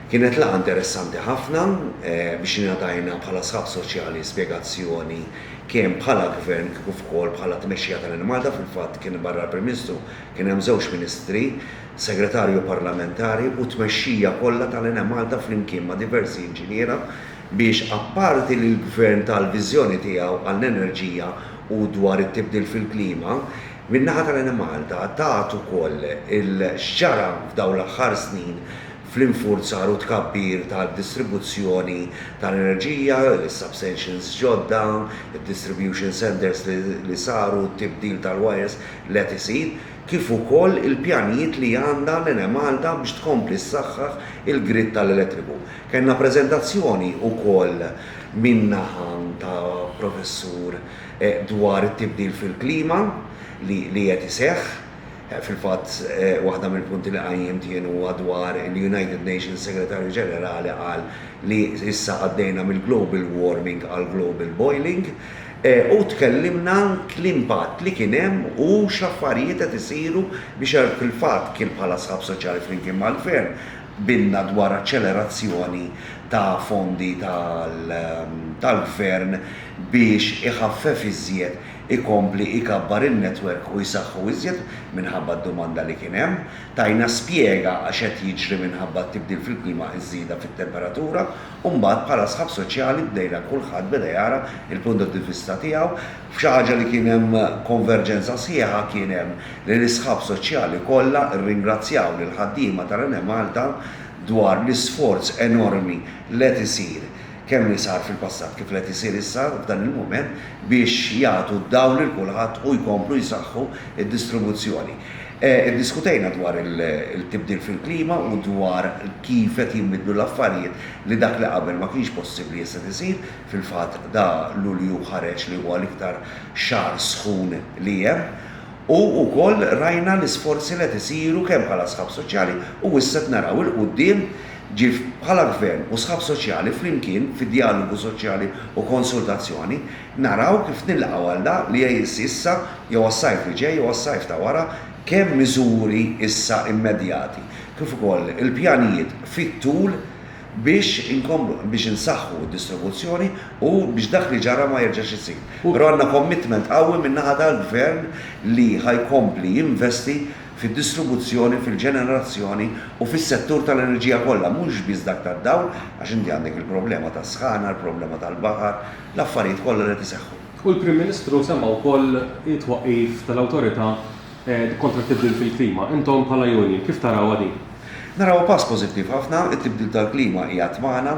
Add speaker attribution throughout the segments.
Speaker 1: Kienet laqgħa interessanti ħafna biex ingħatajna bħala sħab soċjali spjegazzjoni kemm bħala Gvern kif ukoll bħala tmexxija ta' Lil Malta, fil-fatt kien barra l-Prim Ministru kien hemm żewġ Ministri, Segretarju Parlamentari u t-tmexxija kollha ta' l-Enemalta flimkien ma' diversi inġiniera biex apparti li l-Gvern ta l-viżjoni tiegħu għall-enerġija u dwar it-tibdil fil-klima, Min-naħa tal-Enemalta tat ukoll x'ġara f'dawn l-aħħar snin fl-infurzar u tkabbir tad-distribuzzjoni tal-enerġija, is-substations ġodda, id-distribution centres li saru, t-tibdil tal-wires li qed isir, kif ukoll il-pjanijiet li għandha l-Enemalta biex tkompli ssaħħaħ il-grid tal-elettriku. Kellna preżentazzjoni ukoll min-naħa ta' Professur dwar it-tibdil fil-klima li qed iseħħ. Fil-fatt, waħda mill-punti li qajjimt jien huwa dwar il-United Nations Segretarju Ġenerali qal li issa għaddejna mill-global warming għall-global boiling u tkellimna l-impatt li kien hemm u x'affarijiet qed isiru biex fil-fatt kien bħala Sħab Soċjali flimkien mal-Gvern Qbilna dwar aċċelerazzjoni ta' fondi tal-Gvern biex iħaffef iżjed, ikompli ikabbar in-netwerk u jsaħħu iżjed minħabba d-domanda li kien hemm. Tajna spjega għax qed jiġri minħabba t-tibdil fil-klima iż-żieda fit-temperatura u mbagħad bħala sħab soċjali bdejna kulħadd beda jara l-punt di vista tiegħu. F'xi ħaġa li kien hemm konverġenza sħiħa kien hemm li l-isħab soċjali kollha rringrazzjaw lill-ħaddiema tal-Enemalta dwar l-isforz enormi li qed isir, kemm li sar fil-passat kif li qed isir issa f'dan il-mument biex jagħtu d-dawl lil kulħadd u jkomplu jsaħħu d-distribuzzjoni. Iddiskutejna dwar il-tibdil fil-klima u dwar kif qed jinbidlu l-affarijiet li dak li qabel ma kienx possibbli issa qed isir, Fil-fatt da Lulju ħareġ li huwa l-iktar xahar sħun li hemm u wkoll rajna l-isforzi li qed isiru kemm bħala sħab soċjali u issa qed naraw 'il quddiem ġif bħala Gvern u sħab soċjali flimkien fi djalogu soċjali u konsultazzjoni naraw kif nilqgħu għal da li jsir issa jew għas-sajf li ġej jew għas-sajf ta' wara kemm miżuri issa immedjati kif ukoll il-pjanijiet fit-tul biex inkomplu biex insaħħu d-distribuzzjoni u biex dak li ġara ma jerġax isir. Però għandna commitment qawwi min-naħa tal-Gvern li ħa jkompli jinvesti fid-distribuzzjoni, fil-ġenerazzjoni u fis-settur tal-enerġija kollha, mhux biss dak tad-dawl, għax inti għandek il-problema tas-sħana, il-problema tal-baħar, l-affarijiet kollha li qed iseħħu. U l-Prim Ministru
Speaker 2: semma wkoll it-twaqqif tal-Awtorità kontra t-tibdil fil-klima. Intom bħala union kif tarawha din? Narawha pass
Speaker 1: pożittiv ħafna, it-tibdil tal-klima qiegħed magħna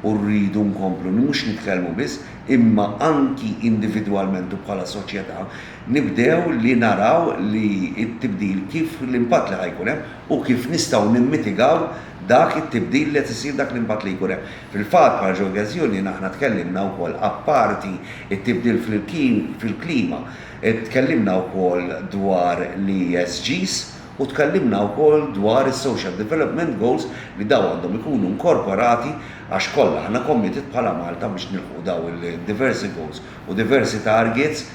Speaker 1: u rridu nkomplu mhux nitkellmu biss imma anki individwalment u bħala soċjetà nibdew li naraw li t-tibdil kif l-impatt li ħa jkun hemm u kif nistgħu nimmitigaw dak it-tibdil li qed isir dak l-impatt li jkun hemm. Fil-fatt bħala Joggers Union aħna tkellimna wkoll apparti t-tibdil fil-klima, Tkellimna wkoll dwar l-ESGs u tkellimna wkoll dwar is-Social Development Goals li dawn għandhom ikunu inkorporati għax kollha aħna committed bħala Malta biex nilħqu dawn il-diversi goals u diversi targets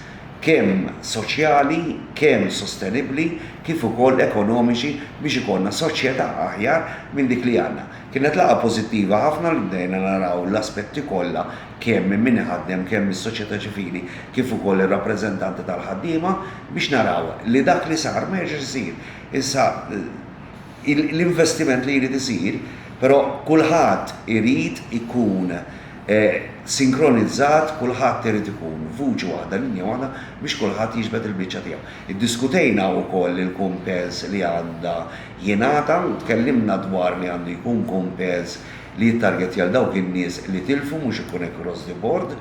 Speaker 1: kemm soċjali, kemm sostenibbli kif ukoll ekonomiċi biex ikollna soċjetà aħjar minn dik li għandna. Kienet laqgħa pożittiva ħafna li bdejna naraw l-aspetti kollha kemm minn min iħaddem, kemm mis-soċjetà ċivili kif ukoll ir-rappreżentanti tal-ħaddiema biex naraw li dak li sar ma jerġax isir. Issa l-investiment li jrid isir, però kulħadd irid ikun sinkronizzat, kulħadd irid ikun vuċi waħda, linja waħda biex kulħadd jiġbed il-biċċa tiegħu. Iddiskutejna wkoll il-kumpens li għandha jingħata u tkellimna dwar li għandu jkun kumpens li jittargetja 'l dawk in-nies li tilfu mhux ikun hekk cross the board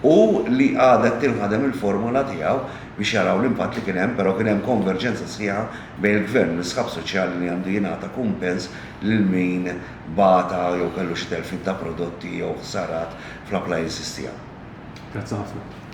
Speaker 1: u li għadha qed tinħadem il-formola tiegħu biex jaraw l-impatt li kien hemm però kien hemm konverġenza sħiħa bejn il-Gvern u l-isħab soċjali li għandu jingħata kumpens lil min bata jew kellu xi telfiet ta' prodotti jew
Speaker 2: ħsarat
Speaker 1: fl-appliances tiegħu. Grazzi ħafna.